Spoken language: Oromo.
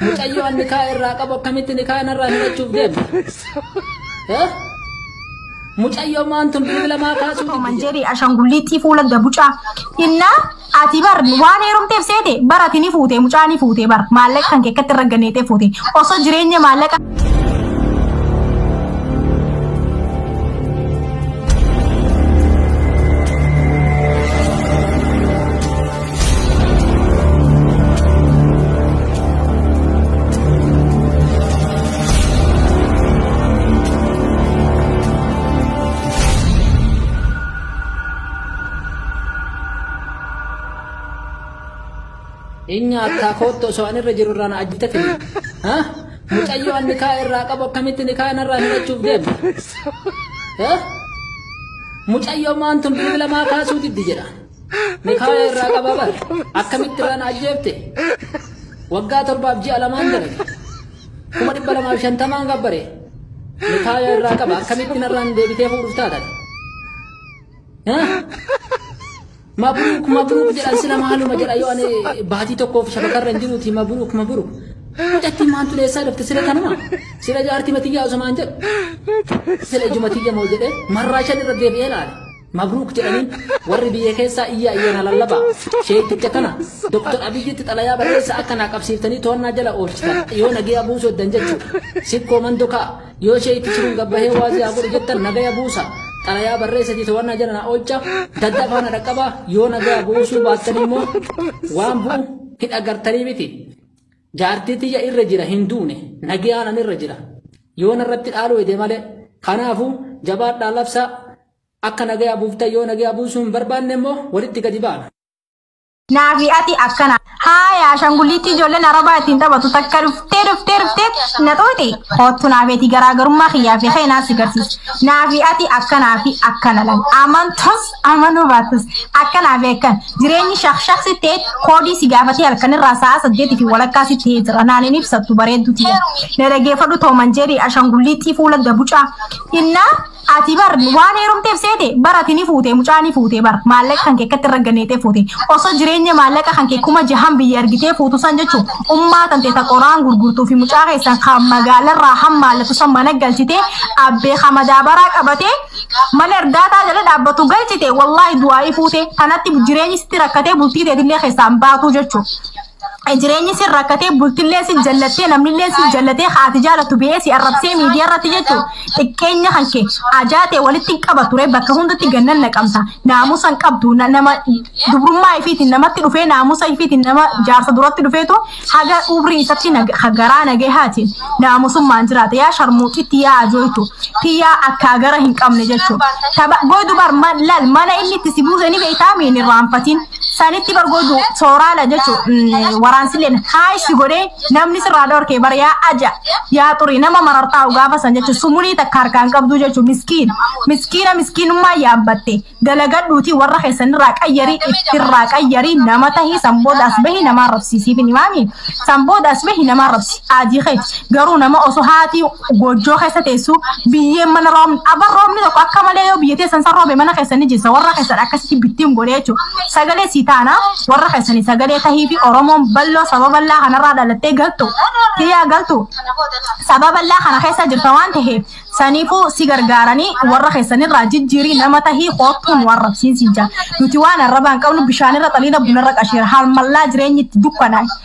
Mucayyoo an nikaa irraa qabu akkamitti nikaa narraa hidhachuuf deemta? Eh? Mucayyoo maan tun bilbila maa kaasuu Tokko man jedhe ashangulliittii fuula gabucaa. Inna ati bar waan heerumteef seete bar ati ni fuute mucaa ni fuute bar maallaqa kan keekkatti irra ganeetee fuute osoo jireenya maallaqa. Inni akkaa koottu osoo an irra jiru irraa na ajjita fide. Ha? Mucayyoo an nikaa irraa qabu akkamitti nikaa narraa hidhachuuf deema? Ha? Mucayyoo maantun bilbila maa kaasuu diddi jedha. Mikaaya irraa qaba bar. Akkamitti irraan ajjeefte? Waggaa torbaaf ji'a lamaan dalage. Kuma dhibba lamaaf shantamaan gabbare. Mikaaya irraa qaba. Akkamitti narraan deebitee fuudhuuf taatan? Mabruuk mabruuk jedhan sila maaluma jedha yoo ani baatii tokkoof shabakarra hin jiruuti mabruuk mabruuk. Mucattiin maantu leessaa dhufte sila kanuma. Sila jaartii matiyyaa osoo maan jedhu. Sila ijuma tiyya moo jedhee marraa shan irra deebi'ee laale. Mabruuk jedhaniin warri biyya keessaa iyyaa iyyana lallabaa. Sheekticha kana Dr. Abiyyitti xalayaa barreessa akka naa qabsiiftanii to'annaa jala oolchitan yoo nagaya buusu heddan jechuudha. Sikkoo mandokaa yoo sheektichi kun gabbahee waazii haa godhu jettan nagaya buusa. Xalayaa barreessatii to'annaa jala naa oolcha. Dadda faana dhaqqabaa yoo nagaya buusuu baattan immoo waan bu'u hin agartanii miti. Jaartii tiyya irra jira hin duune nagayaan an irra jira. Yoo narratti dhaaluu hede malee kanaafuu jabaadhaa labsaa Akka nagaya buuftan yoo nagaya buusuu hin barbaanne immoo walitti gadi baana. Naa fi ati akkana. Haaya ashangullittii ijoolleen arabaa ittiin taphatu takka dhuftee dhuftee dhuftee na xuuxi. Koottu naa feeti garaagarummaa kiyyaa fi kee naa si garsiisa. Naa fi ati akkanaa fi akkana lal. Amantus amanuu baatus akkanaa fi akkan. Jireenyi shakshak si ta'e koodii si gaafatee halkanirraa sa'a saddeetii fi walakkaa si ta'ee jira. Naan hin ibsattu bareedduu tiyya. Na dhageeffadhu tooman jeerii ashangullittii fuula gabucaa. Innaa Ati bar waan heerumteef seete bar ati ni fuute mucaa ni fuute bar maallaqa kan kee akkatti irra ganneetee fuute osoo jireenya maallaqa kan kee kuma jahan biyya argitee fuutu san jechuun ummaa tantee ta qoraan gurgurtuu fi mucaa keessan kan magaalarraa hammaallatu san mana galchitee abbee kan madaabaraa qabatee mana erdaataa jala dhaabbatu galchite wallaahi du'aa'ii fuute kanatti jireenyi sitti rakkatee bultii teetillee keessaan baatuu jechuudha. jireenyi sin rakkatee bultillee sin jallattee namnillee sin jallatee haati jaalattu biyee si arrabsee miidiyaa irratti jechuun xiqqeenya kan kee ajaatee walitti hin qaba ture bakka hundatti gannan naqamta naamusa hin qabdu na- nama dubrummaa ifiitiin namatti dhufee naamusa ifiitiin nama jaarsa duratti dhufeetu haga umrii isatti nag- ha- garaa nagee haati naamusummaan jiraata yaa sharmuuxitti yaa ajooytu tiyyaa akkaa gara hin qabne jechuun taba goy dubar man- lal mana inni itti si buuse ni beektaa miin irraanfatiin sanitti bar gootu sooraala jechuun waraansilleen haayishi godhee namni sirraa dhorkee bar yaa aja yaa xurii nama marartaa gaafa san jechuun sumunii takka harkaan qabduu jechuun miskiin miskiina miskiinummaa yaabbatte dalagadhuutii warra keessanirraa qayyarii ittirraa qayyarii nama tahii san booda as bahi namaa rabsiisiif hin himaami san booda as bahi namaa rabsi aadii keeti garuu nama osoo haatii goojjoo keessa teessu biyyeen mana roobni abar roobni tokko akka malee yoo biyya teessan san roobe mana keessan ni jessa warra keessan akkasitti bittiin godhe jechuudha sagalee sii taana warra keessanii sagalee tahii fi oromoon balloo saba ballaa kanarraa dhalattee galtu tiyyaa galtu saba ballaa kana keessa jirta waan taheef saniifuu si gargaaranii warra keessanirraa jijjiirii nama tahii koottuun waan rabsiin siin jaa nuti waan arrabaan qabnu bishaanirra xaliila bunarra qashiira haalmallaa jireenyi itti dukkanaa'e